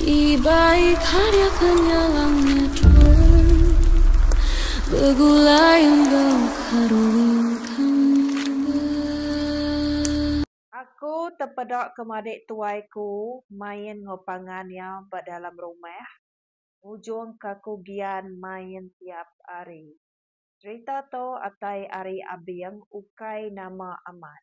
Ibai karya kenyalang nyedul begulai enggau karulingkang ba. Aku tepeda ke madik tuai ku main enggau pangan iya ba dalam rumah ngujung ka aku gian main tiap ari. Cerita tu atai ari abing ukai nama amat.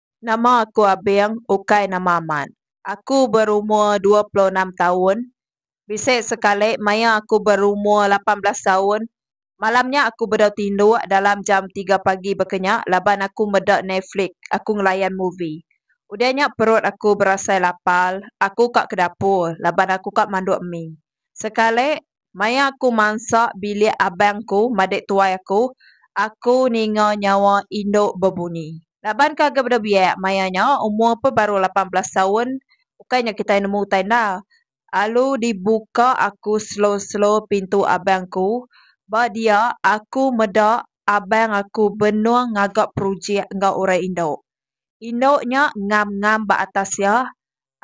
Nama aku Abing, ukai nama amat. Aku berumur dua puluh enam taun. Bisi sekali maya aku berumur lapan belas taun, malam nya aku bedau tinduk dalam jam tiga pagi baka nya laban aku meda Netflix, aku ngelayan movie. Udah nya perut aku berasai lapar, aku ka ke dapur laban aku ka manduk mi. Sekali, maya aku mansa bilik abang aku madik tuai aku, aku ninga nyawa indu bebunyi. Laban ke agak beda biak maya nya, umur pun baru lapan belas taun, ukai nya kitai nemu utai enda. Alu dibuka aku selo-selo pintu abang aku. Ba dia, aku meda abang aku benung ngaga projek enggau orang indu. Indu nya ngam-ngam ba atas iya,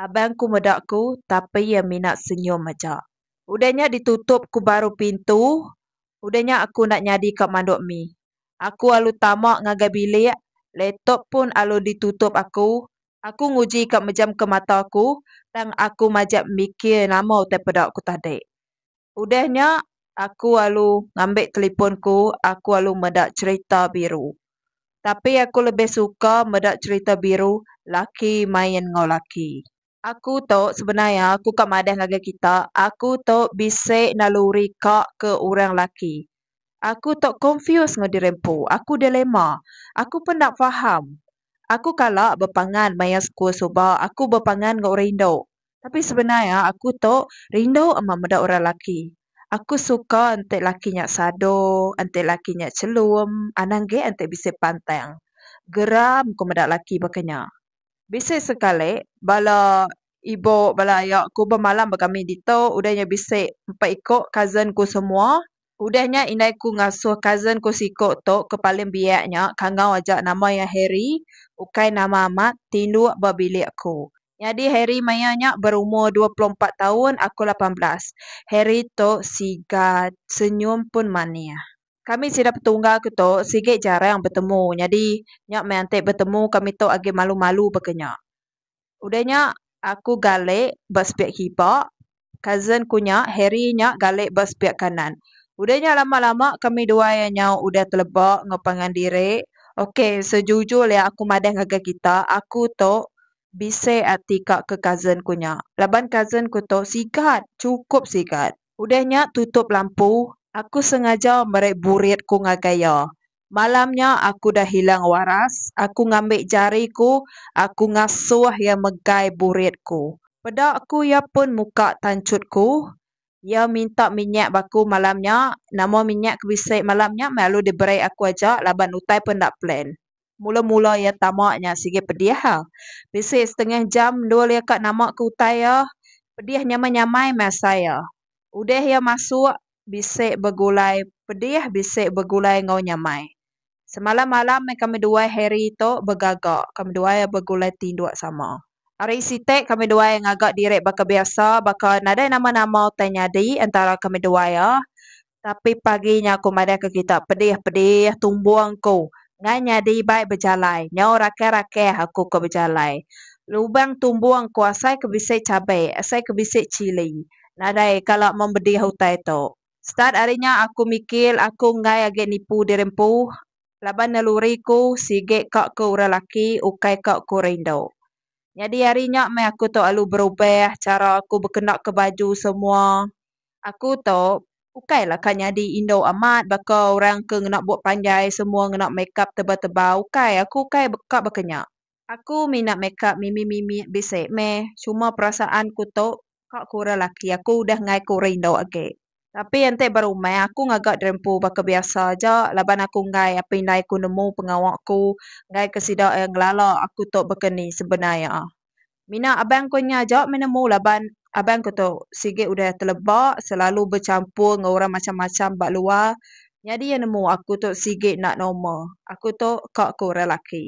Abang ku meda ku tapi iya mina senyum aja. Udah nya ditutup ku baru pintu, udah nya aku enda nyadi ka manduk mih. Aku alu tama ngagai bilik, laptop pun alu ditutup aku. Aku nguji ka mejamka mata aku tang aku majak mikir nama utai peda ku tadi. Udah nya, aku alu ngambi telipon ku, aku alu meda cherita biru. Tapi aku lebih suka meda cherita biru laki main enggau laki. Aku tu sebenar iya aku ka madah ngagai kita, aku tu bisi naluri ka ke orang laki. Aku tu confuse enggau diri empu, aku dilemma. Aku pun enda faham. Aku kala bepangan maya sekul suba, aku bepangan enggau orang indu. Tapi sebenar iya aku tu rindu amat meda orang lelaki. Aku suka enti lelaki nya sadong, enti lelaki nya chelum, anang gek enti bisi pantang. Geram ku meda lelaki baka nya. Bisi sekali bala ibu bala aya ku bemalam ba kami ditu udah nya bisi empat iko cousin ku semua. Udah nya indai ku ngasuh cousin ku siko tu ke paling biak nya kangau aja nama iya Harry, ukai nama amat, tinduk ba bilik aku. Nyadi Harry maya nya berumur dua puluh empat taun, aku lapan belas. Harry tu siga senyum pun manih. Kami sida petungga ke tu sigi jarang betemu nyadi nya meh enti betemu kami tu agi malu-malu baka nya. Udah nya aku gale ba sepiak hiba Cousin ku nya, Harry nya galik ba sepiak kanan. Udah nya lama-lama kami duai iya nyau udah teleba enggau pangan diri. Ok, sejujur lya aku madah ngagai kita, aku tu bisik ati ka ke cousin ku nya. Laban cousin ku tu sigat, chukup sigat. Udah nya tutup lampu, aku sengaja meri burit ku ngagai iya. Malam nya aku udah hilang waras, aku ngambi jari ku, aku ngasuh iya megai burit ku. Peda ku iya pun muka tanchut ku. Iya minta minyak ba aku malam nya, nama minyak ke bisi malam nya meh lalu diberi aku aja laban utai pun enda plan. Mula-mula iya tama nya sigi pedih ah. Bisi setengah jam endur iya ka nama ke utai iya. Pedih nyamai-nyamai meh asai iya. Udah iya masuk, bisi begulai pedih bisi begulai enggau nyamai. Semalam malam meh kami duai Harry tu begaga. Kami duai begulai tinduk sama. Ari siti kami duai ngaga diri baka biasa baka nadai nama-nama utai nyadi entara kami duai. Tapi pagi nya aku madahka kita pedih pedih tumbung ku ngai nyadi ibai bejalai nyau rakeh rakeh aku ko bejalai lubang tumbung ku asai ke bisi cabe asai ke bisi chili nadai kala mong bedih utai tu start ari nya aku mikir aku enggai agi nipu diri empu laban naluri ku sigi ka ku orang laki ukai ka ku orang indu nyadi ari nya meh aku tu alu berubah chara aku bekenaka baju semua. Aku tu ukai lah ka nyadi indu amat baka orang ke ngena bup panjai semua ngena makeup tebal tebal ukai aku ukai ka baka nya. Aku mina makeup mimi mimi bisi meh cuma perasaan ku tu ka ku orang laki aku udah enggai ku orang indu agi tapi enti ba rumah aku ngaga drempu baka biasa aja laban aku enggai apai indai ku nemu pengawa ku enggai ke sida ngelala aku tu baka ni sebenar iya. Mina abang ko nya aja meh nemu laban abang ko tu sigi udah teleba selalu bechampur enggau orang macham-macham ba luar nyadi iya nemu aku tu sigi enda normal. Aku tu ka ko orang laki.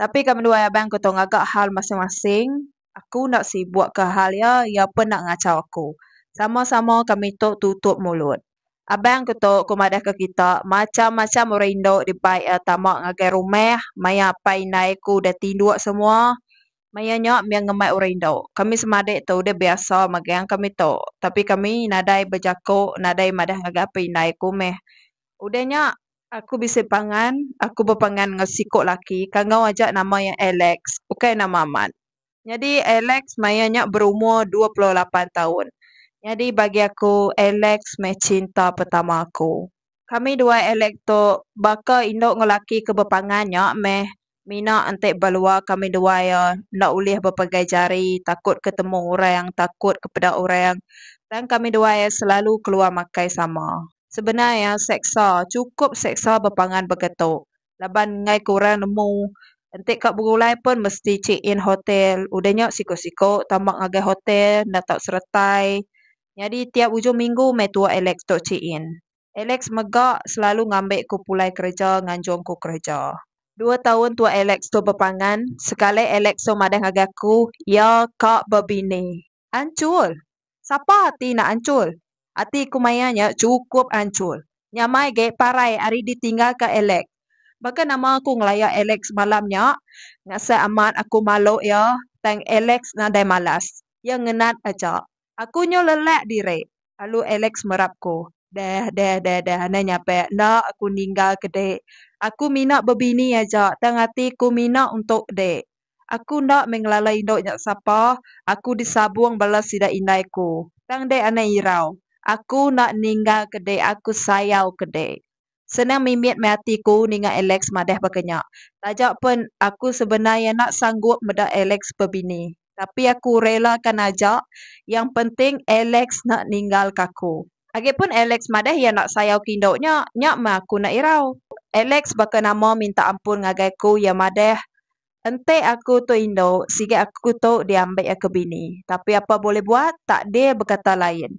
Tapi ka menduai abang ko tu ngaga hal masing-masing aku enda sibuk ka hal iya iya pun enda ngachau aku. Sama-sama kami tu tutup mulut. Abang aku tu ku madahka kita macham-macham orang indu dibai iya tama ngagai rumah maya apai indai aku udah tinduk semua. Maya nya mih ngemai orang indu. Kami semadik tu udah biasa megang kami tu. Tapi kami nadai bejaku nadai madah ngagai apai indai aku mih. Udah nya aku bisi pangan aku bepangan enggau siku laki kangau aja nama iya Alex ukai nama amat. Nyadi Alex maya nya berumur dua puluh lapan taun. Nyadi bagi aku Alex meh cinta pertama aku. Kami dua Alex tu baka indu enggau laki ke bepangan nya meh mina enti ba luar kami dua iya enda ulih bepegai jari takut ke temu orang takut ke peda orang tang kami dua iya selalu keluar makai sama. Sebenar iya seksa, chukup seksa bepangan begitu. Laban enggai ke orang nemu enti ka begulai pun mesti check in hotel udah nya siko-siko tambah ngagai hotel enda tau seretai nyadi tiap ujung minggu meh tuak Alex tu check in. Alex mega selalu ngambi ku pulai kereja nganjung ku kereja. Dua taun tuak Alex tu bepangan, sekali Alex tu madah ngagai aku iya ka bebini. Anchur! Sapa ati enda anchur? Ati ku maya nya chukup anchur. Nyamai ge parai ari ditinggalka Alex. Baka nama aku ngelaya Alex semalam nya? Ngasai amat aku malu iya tang Alex nadai malas. Iya ngenat aja. Aku nyu lelak diri, lalu Alex merap ku. Deh, deh, deh, deh anai nyape enda aku ninggalka dik. Aku mina bebini aja tang ati ku mina untuk dik. Aku enda meh ngelala indu nya sapa, aku disabung bala sida indai ku. Tang dek anai irau. Aku enda ninggal ke dek aku sayau ke dek. Senang mimit meh ati ku ninga Alex madah baka nya. Taja pen aku sebenar iya enda sanggup meda Alex bebini. Tapi aku rela kan aja, yang penting Alex enda ninggal ka aku. Agipun Alex madah iya enda sayau ke indu nya, nya meh aku enda irau. Alex baka nama minta ampun ngagai aku iya madah, Enti aku tu indu, sigi aku tu diambi iya ke bini. Tapi apai bulih buat, takdir bekata lain.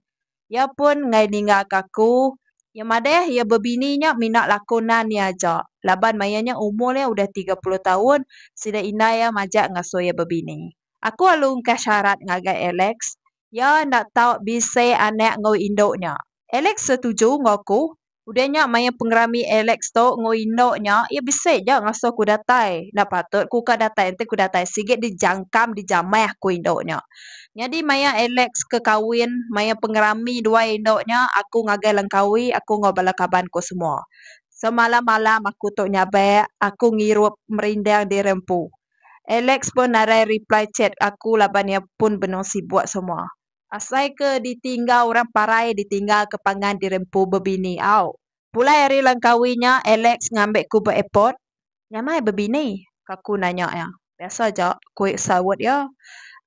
Iya pun enggai ninggalka aku. Iya madah iya bebini nya mina laku nan iya aja laban maya nya umur iya udah tiga puluh taun, sida indai iya majak ngasuh iya bebini. Aku alu engkah syarat ngagai Alex, Iya enda tau bisi anak enggau indu nya. Alex setuju enggau aku. Udah nya maya pengerami Alex tu enggau indu nya, iya bisi ja ngasuh aku datai. Enda patut aku ka datai enti aku datai sigi dijangkam dijamah ku indu nya. Nyadi maya Alex ke kawin, maya pengerami dua indu nya, aku ngagai Langkawi, aku enggau bala kaban aku semua. Semalam malam aku tu nyabak, aku ngirup merindang diri empu. Alex pun narai reply chat aku laban iya pun benung sibuk semua. Asai ke ditingga orang parai ditingga ke pangan dirempu bebini au. Pulai ari Langkawi nya Alex ngambi ku ba airport. Nyamai bebini? Aku nanya iya. Biasa aja, ku saut iya.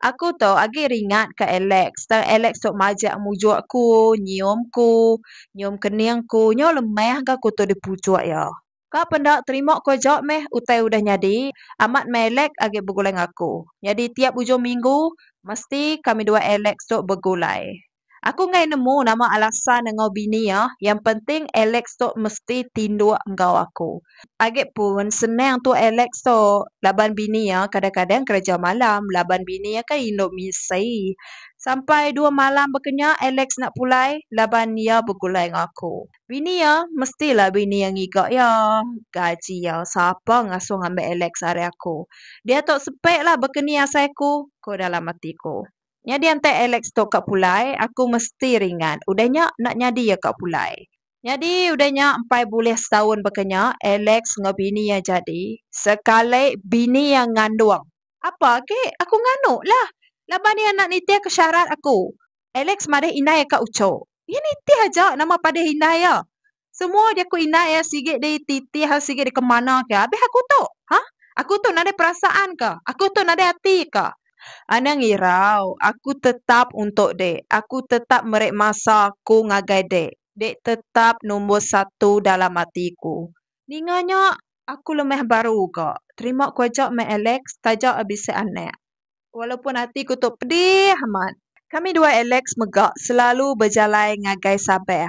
Aku tu agi ringat ka Alex tang Alex tu majak mujuk ku, nyium ku, nyium kening ku nyau lemah ga aku tu dipujuk iya. Ka penda terima ko ja meh utai udah nyadi amat meh Alex agi begulai ngaku nyadi tiap ujung minggu mesti kami dua Alex tu begulai aku enggai nemu nama alasan enggau bini iya yang penting Alex tu mesti tinduk enggau aku agi pun senang tu Alex tu laban bini iya kadang kadang kereja malam laban bini iya kan indu misi sampai dua malam bekenyak Alex enda pulai laban iya begulai enggau aku Bini iya mestilah bini iya ngiga iya. Gaji iya sapa ngasuh ngambi Alex ari aku. Diatu sepiklah baka ni asai aku, ku dalam ati aku. Nyadi antai Alex tu ka pulai, aku mesti ringat. Udah nya enda nyadi iya ka pulai. Nyadi udah nya empai bulih setaun baka nya, Alex enggau bini iya jadi. Sekali bini iya ngandung. Apa agi? Aku nganduklah. Laban iya enda nitihka syarat aku. Alex madah indai ka ucho. Iya nitih aja nama padah indai iya. Semua jaku indai iya sigi dititih sigi dikemana ke abih aku tu. Ha? Aku tu nadai perasaan ke? Aku tu nadai ati ke? Anang irau, aku tetap untuk dek. Aku tetap meri masa aku ngagai dek. Dek tetap numbur satu dalam ati ku. Ninga nya, aku lemah baru ga. Terima ku aja meh Alex, taja bisi anak. Walaupun ati ku tu pedih amat, kami dua Alex mega selalu bejalai ngagai Sabah.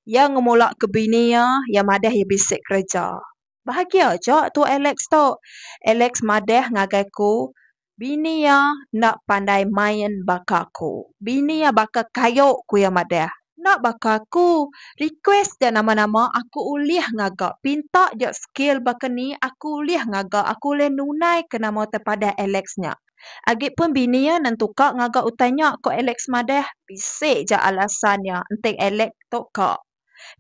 Iya ngemula ke bini iya, iya madah iya bisi kereja. Bahagia aja tu Alex tu. Alex madah ngagai aku, bini iya enda pandai main baka aku. Bini iya baka kayu, ku iya madah. Enda baka aku, request ga nama-nama aku ulih ngaga, pinta ja skill baka ni aku ulih ngaga aku ulih nunai ke nama utai padah Alex nya. Agi pun bini iya nentuka ngaga utai nya ko Alex madah bisi ja alasan iya enti Alex tu ka.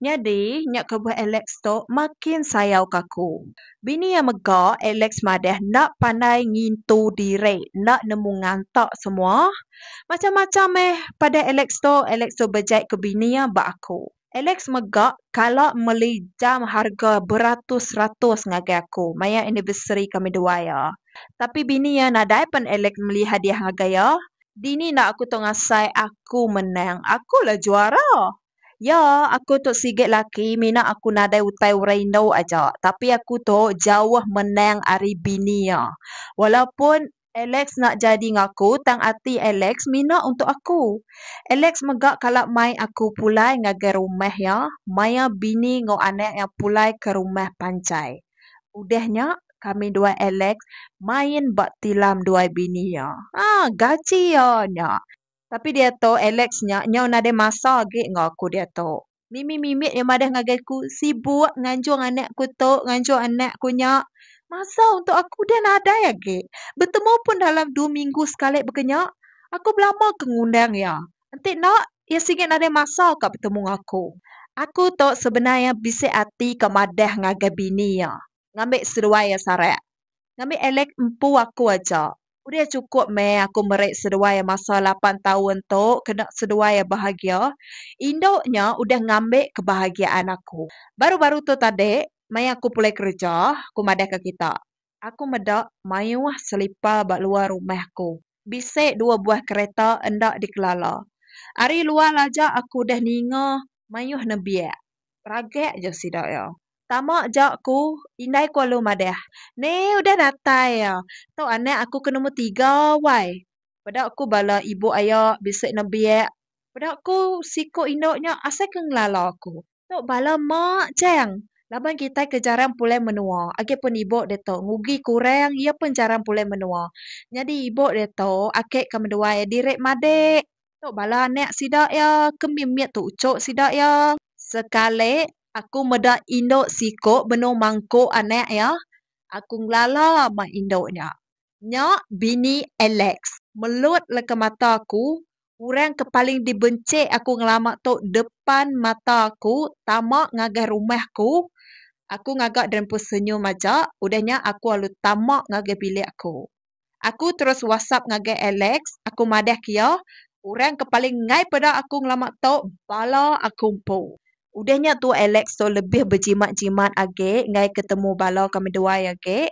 Nyadi nya kebuah Alex tu makin sayauka aku. Bini iya mega, Alex madah enda pandai ngintu diri, enda nemu nganta semua. Macam-macam meh padah Alex tu, Alex tu bejai ke bini iya ba aku. Alex mega kala meli jam harga beratus-ratus ngagai aku maya anniversary kami dua iya. Tapi bini iya nadai pen Alex meli hadiah ngagai iya. Dini enda aku tu ngasai aku menang, aku la juara. Ya, aku tu sigi laki mina aku nadai utai orang indu aja, tapi aku tu jauh menang ari bini iya. Walaupun Alex enda jadi ngaku tang ati Alex mina untuk aku. Alex mega kala mai aku pulai ngagai rumah iya maya bini enggau anak iya pulai ke rumah panchai. Udah nya, kami dua Alex main ba tilam duai bini iya. Gaji iya nya. Tapi diatu Alex nya nyau nadai masa agi enggau aku diatu. Mimi mimit iya madah ngagai aku sibuk nganjung anak ku tu nganjung anak ku nya. Masa untuk aku udah nadai agi. Betemu pun dalam dua minggu sekali baka nya. Aku belama ke ngundang iya. Enti enda iya sigi nadai masa ka betemu enggau aku. Aku tu sebenar iya bisi ati ka madah ngagai bini iya. ngambi seduai iya sarak. Ngambi Alex empu aku aja. Udah chukup meh aku meri seduai iya masa lapan taun tu kena seduai iya bahagia. Indu nya udah ngambi kebahagiaan aku. Baru-baru tu tadi, maya aku pulai kereja, aku madah ke kita. Aku meda mayuh selipa ba luar rumah aku. Bisi dua buah kereta enda dikelala. Ari luar aja aku udah ninga Mayuh nembiak. Ragak aja sida iya. Tama aja aku. Indai ku alu madah. Ne udah datai iya. Tu anak aku ke nombor tiga wai. Peda ku bala ibu aya bisi nembiak. Peda ku siku indu nya asai ke ngelala aku. Tu bala mak chang. Laban kitai ke jarang pulai menua. Agi pun ibu ditu ngugi ke orang iya pun jarang pulai menua. Nyadi ibu ditu ake ke menduai diri madik. Tu bala anak sida iya ke mimit tu uchu sida iya. Sekali aku meda indu siku benung mangku anak iya, aku ngelala mah indu nya. Nya bini Alex. Melut leka mata aku, orang ke paling dibenchi aku ngelama tu depan mata aku tama ngagai rumah aku. Aku ngaga derimpun senyum aja, udah nya aku lalu tama ngagai bilik aku. Aku terus whatsapp ngagai Alex, aku madahka iya, Orang ke paling enggai peda aku ngelama tu bala aku empu. Udah nya tu Alex tu lebih bejimat-jimat agi enggai ke temu bala ke meduai agi.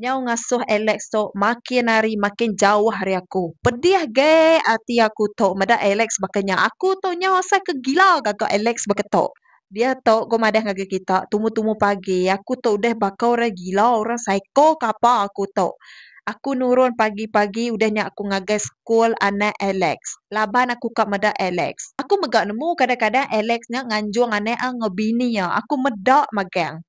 Nyau ngasuh Alex tu makin hari makin jauh ari aku. Pedih ge ati aku tu meda Alex baka nya. Aku tu nyau asai ke gila gaga Alex baka tu. Diatu ko madah ngagai kita tumu-tumu pagi aku tu udah baka orang gila orang psycho ke apa aku tu. Aku nurun pagi-pagi udah nya aku ngagai school anak Alex. Laban aku ka meda Alex. Aku mega nemu kadang-kadang Alex nya nganjung anak iya enggau bini iya. Aku meda magang.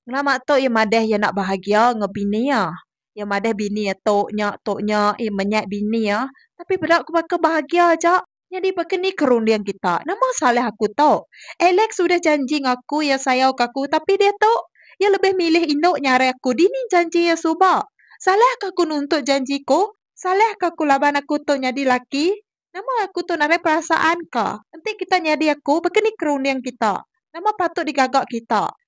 Ngelama tu iya madah iya enda bahagia enggau bini iya. Iya madah bini iya tu nya tu nya iya menyat bini iya. Tapi peda aku baka bahagia aja. Nyadi baka ni ke runding kita. Nama salah aku tu? Alex udah janji ngaku iya sayauka aku tapi diatu iya lebih milih indu nyarai aku dini janji iya suba. Salahka aku nuntut janji ku? Salahka aku laban aku tu nyadi laki? Nama aku tu narai perasaan ka? Enti kita nyadi aku baka ni ke runding kita? Nama patut digaga kita?